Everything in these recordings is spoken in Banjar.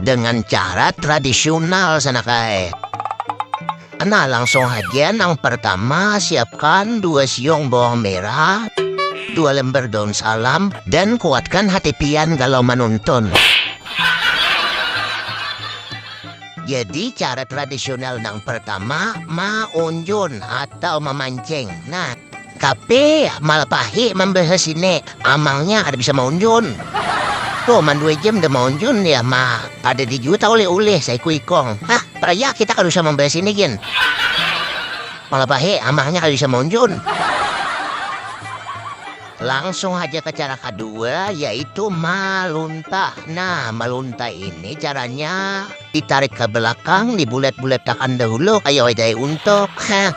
dengan cara tradisional sana kae nah langsung aja nang pertama siapkan dua siung bawang merah dua lembar daun salam dan kuatkan hati pian kalau menonton jadi cara tradisional nang pertama maunjun atau memancing nah Tapi malah pahi membahas ini amangnya ada bisa maunjun. Tuh man dua jam udah maunjun ya ma ada di juta oleh oleh saya ku ikong. Hah, peraya kita kada usah membahas ini gin. Malah pahi amangnya kada bisa maunjun. Langsung aja ke cara kedua yaitu malunta. Nah, malunta ini caranya ditarik ke belakang, dibulet-buletakan dahulu kayak wedai untuk. Hah.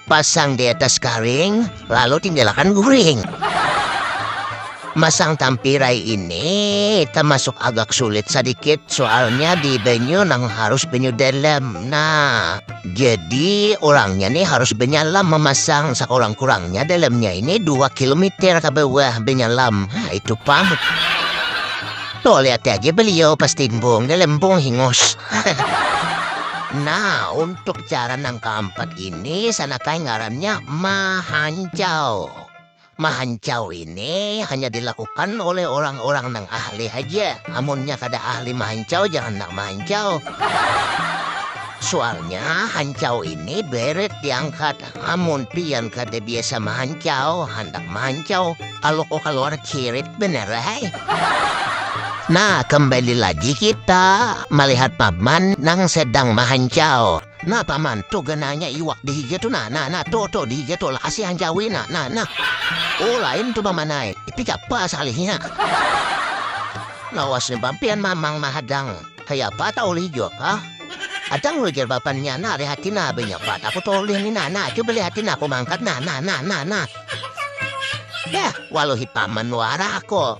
Pasang di atas karing, lalu tinggalkan guring. Masang tampirai ini termasuk agak sulit sedikit soalnya di banyu nang harus banyu dalam. Nah, jadi orangnya nih harus benyalam memasang sekurang-kurangnya dalamnya ini 2 kilometer ke bawah benyalam. Nah, itu pang. Tuh lihat aja beliau pas timbung, dalam pung hingus. Nah, untuk cara nang keempat Ini sanakai ngarannya mahancau. Mahancau ini hanya dilakukan oleh orang-orang nang ahli haja. Amunnya kada ahli mahancau jangan nang mahancau. Soalnya hancau ini beret diangkat. Amun pian kada biasa mahancau, handak mahancau, kalau kok keluar cirit benar hai. Nah, kembali lagi kita melihat paman nang sedang mahancau. Nah paman, tuh gananya iwak di higa tuh nah, nah nah tuh tuh di higa tuh lakasi hanjawi nah nah nah. Oh lain tuh paman ai, tapi apa salihnya? Lawas ni bampian mamang mahadang, kaya apa tau lih jok ah? Adang lu jar bapannya, nah lihatin nah benya apa aku tau lih ni nah nah, coba lihatin aku mangkat nah nah nah nah nah. Yah, waluhi paman wara aku.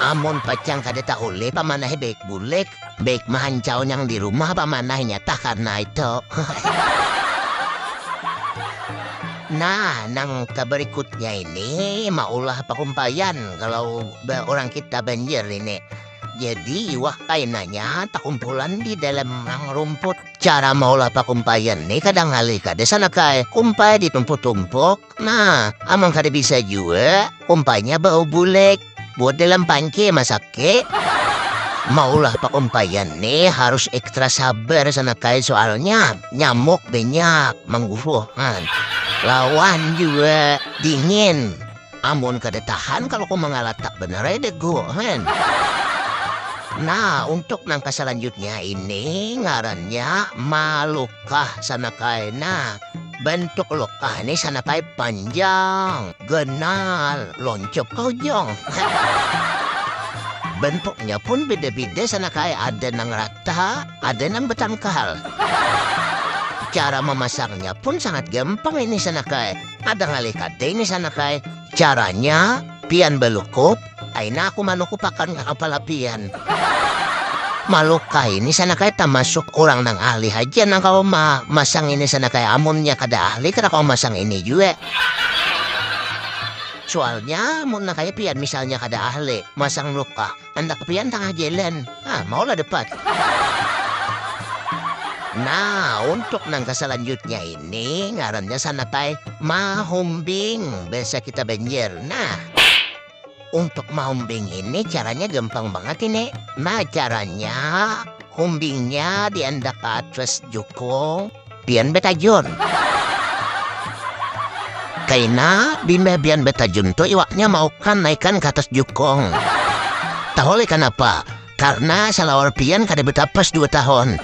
Amun pacang kada tahu lih paman ai baik bulik. Baik mahancau nang di rumah pamanahnya tah karna itu. Nah, nang keberikutnya ini maulah pakumpaian kalau orang kita banjir ini. Jadi iwak kainanya takumpulan di dalam nang rumput. Cara maulah pakumpaian ini kadang kali kada sana kai kumpai ditumpuk-tumpuk Nah, amang kada bisa jua, umpainya bau bulek, buat dalam panke masake. Maulah pakumpaian nih harus ekstra sabar sana kai soalnya nyamuk banyak mangguruhan. Lawan juga dingin. Amun kada tahan kalau kau mangalatak benar ya degu kan. Nah, untuk nangka selanjutnya ini ngarannya malukah sana kai. Nah, Bentuk luka ni sanapai panjang, ganal, lonjop kojong. Bentuknya pun beda-beda sanakai ada nang rata, ada nang betangkal. Cara memasangnya pun sangat gampang ini sanakai. Ada ngalih kada ini sanakai. Caranya, pian balukup, Aina aku manuku pakan kepala pian. Maluk kai ini sana kaya termasuk orang nang ahli haja nang kau ma masang ini sana kaya amunnya kada ahli kada kau masang ini jue. Soalnya mun kaya pian misalnya kada ahli masang luka, andak pian tangah jalan. Ah, maulah depan. Nah, untuk nang keselanjutnya ini ngarannya sanatai mahumbing biasa kita banjir. Nah, untuk mahumbing ini caranya gampang banget ini. Nah, caranya humbingnya diandak ke atas jukung, Pian betajun. Kaina limbah pian betajun tu iwaknya maukan naikan ka atas jukung. Tahu lih kanapa? Karena salawar pian kada betapas dua tahun.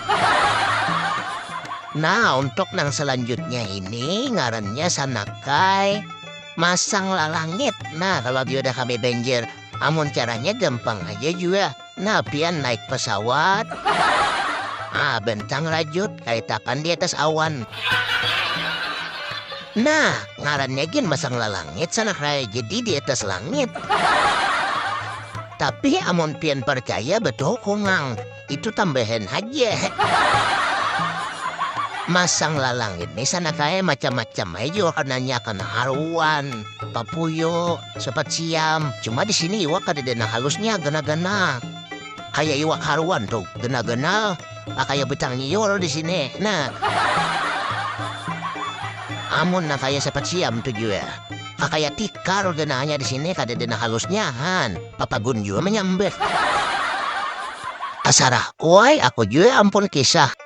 Nah, untuk nang selanjutnya ini ngarannya sanakai masang lalangit. Nah, kalau dia udah kami banjir, amun caranya gampang aja jua. Nah pian naik pesawat Ah bentang rajut kayak tapan di atas awan Nah ngarannya gin masang lalangit sanak raya jadi di atas langit Tapi amun pian percaya betul kungang itu tambahan haja Masang lalangit ni sanak raya macam-macam aja warnanya kena aruan, papuyo, Sepat siam, cuma di sini iwak kadada nang halusnya, ganal-ganal. Kayak iwak haruan tuh, ganal-ganal, ah, kayak becang nyiur di sini. Nah. Amun nang kayak sepat siam tuh jua, ah, kayak tikar ganalnya di sini, kadada nang halusnya, han. Papagun jua menyambat. Tasarah, wai, aku jua ampun kisah.